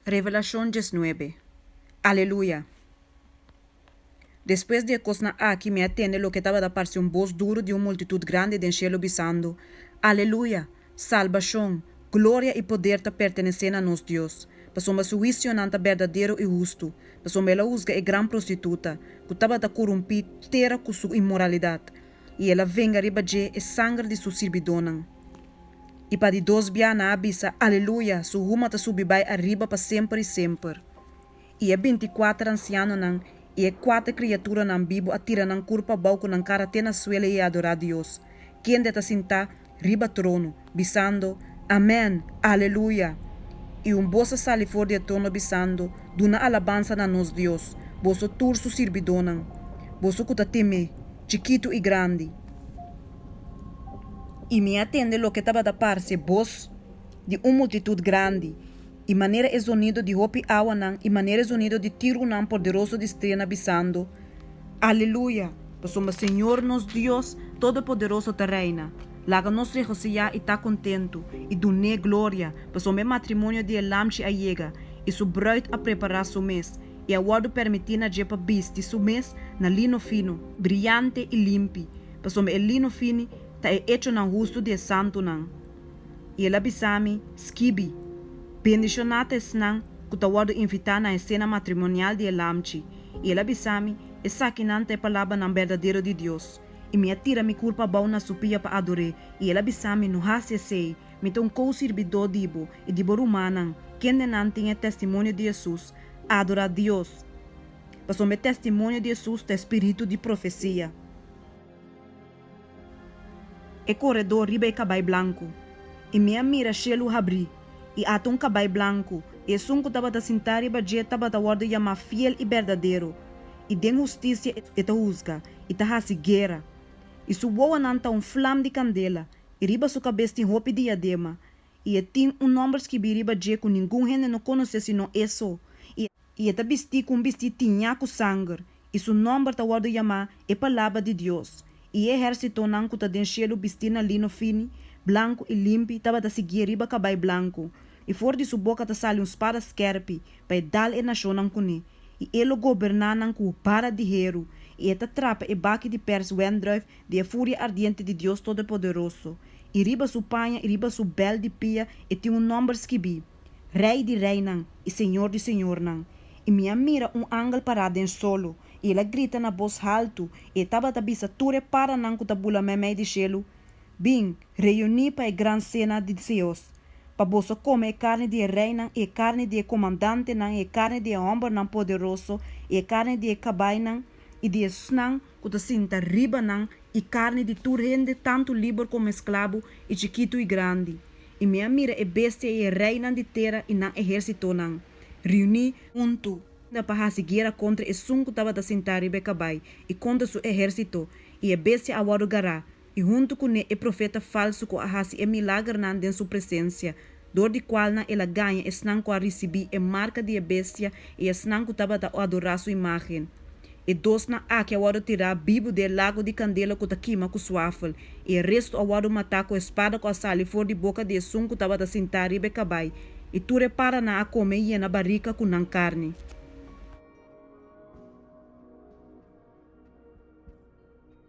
Revelashon diesnuebe Aleluya! Despues di e kosnan aki mi a tende loke tabata parse un bos duru di un multitut grandi den shelu bisando, Aleluya! Salbashon, gloria i poder ta pertenesé na nos Dios, pasobra su huisionan ta berdadero i hustu, pasobra el a husga e gran prostituta, ku tabata kurumpí tera ku su inmoralidat, i el a venga riba dje e sanger di su sirbidónan. i pa di dos bianan a bisa, Aleluya, su huma ta subi bai ariba pa semper i semper. I e binti kuater ansianonan i e kuater kriaturanan bibu a tira nan kurp abou ku nan kara te na suelo i a adorá Dios, kende ta sintá riba trono, bisando, Amèn! Aleluya! I un bos a sali for di e trono bisando, Duna alabansa na nos Dios, boso tur su sirbidónan, boso ku ta tem'é, chikitu i grandi. i mi a tende loke tabata parse bos di un multitut grandi, i manera e zonido di hopi awanan, i manera e zonido di tirunan porderoso di strena bisando, Aleluya! Pasobra Señor nos Dios Todopoderoso ta reina. Laga nos regosiyá i ta kontentu, i dun'é gloria, pasobra e matrimonio di e Lamchi a yega, i su brùit a prepará su mes, i a wòrdu permití na dje pa bisti su mes na lino fino, briante i limpi. pasobra e lino fini ta e echonan hustu di e santunan. I el a bisa mi, Skibi, bendishoná ta esnan ku ta wòrdu invitá na e sena matrimonial di e Lamchi. I el a bisa mi, Esakinan ta e palabranan berdadero di Dios. I mi a tira mi kurpa abou na su pia pa ador'é. I el a bisa mi, No hasi esei. Mi ta un kou sirbidó di bo i di bo rumannan, kendenan tin e testimonio di Hesus. Adorá Dios! pasobra e testimonio di Hesus ta e spiritu di profesia. E koredó riba e kabai blanku. I mi a mira shelu habrí, i ata un kabai blanku, i esun ku tabata sintá riba dje tabata wòrdu yamá Fiel i Bèrdaderu, i den hustisia e ta husga i ta hasi guera. I su wowonan ta un flam di kandela, i riba su kabes tin hopi diadema, i e tin un nòmber skibí riba dje ku ningun hende no konosé sinon e so, i. i e ta bistí ku un bistí tiñá ku sanger, i su nòmber ta wòrdu yamá e Palabra di Dios. I e ehèrsitonan ku ta den shelu bistí na lino fini, blanku i limpi tabata sigié riba kabai blanku, i for di su boka ta sali un spada skèrpi pa e dal e nashonnan kuné, i e lo goberná nan ku bara di heru, i e ta trapa e baki di pèrs wèndrùif di e furia ardiente di Dios Todopoderoso, i riba su paña i riba su bèl di pia e tin un nòmber skibí. Rei di reinan i Señor di señornan. I mi a mira un angel pará den solo, i el a grita na bos haltu, i e tabata bisa tur e paranan ku ta bula meimei di shelu, Bin, reuní pa e gran sena di Dios, pa boso kome e karni di e reinan, i e karni di e komandantenan, i e karni di e hòmbernan poderoso, i e karni di e kabainan i di esnan, ku ta sinta riba nan, i karni di tur hende, tantu liber komo esklabu, i chikitu i grandi. I mi a mira e bestia i e reinan di tera i nan ehersitonan, riuní huntu, pa hasi guera kontra esun ku tabata sintá riba e kabai, i kontra su ehersito, i e bestia a wòrdu gará, i huntu kuné e profeta falsu ku a hasi e milagernan den su presensia, dor di kualnan el a gaña esnan ku a risibí e marka di e bestia i esnan ku tabata adorá su imágen. E dosnan aki a wòrdu tirá bibu den e lagu di kandela ku ta kima ku suafel, i e restu a wòrdu matá ku e spada ku a sali for di boka di esun ku tabata sintá riba e kabai, i tur e paranan a kome i yena barika ku nan karni.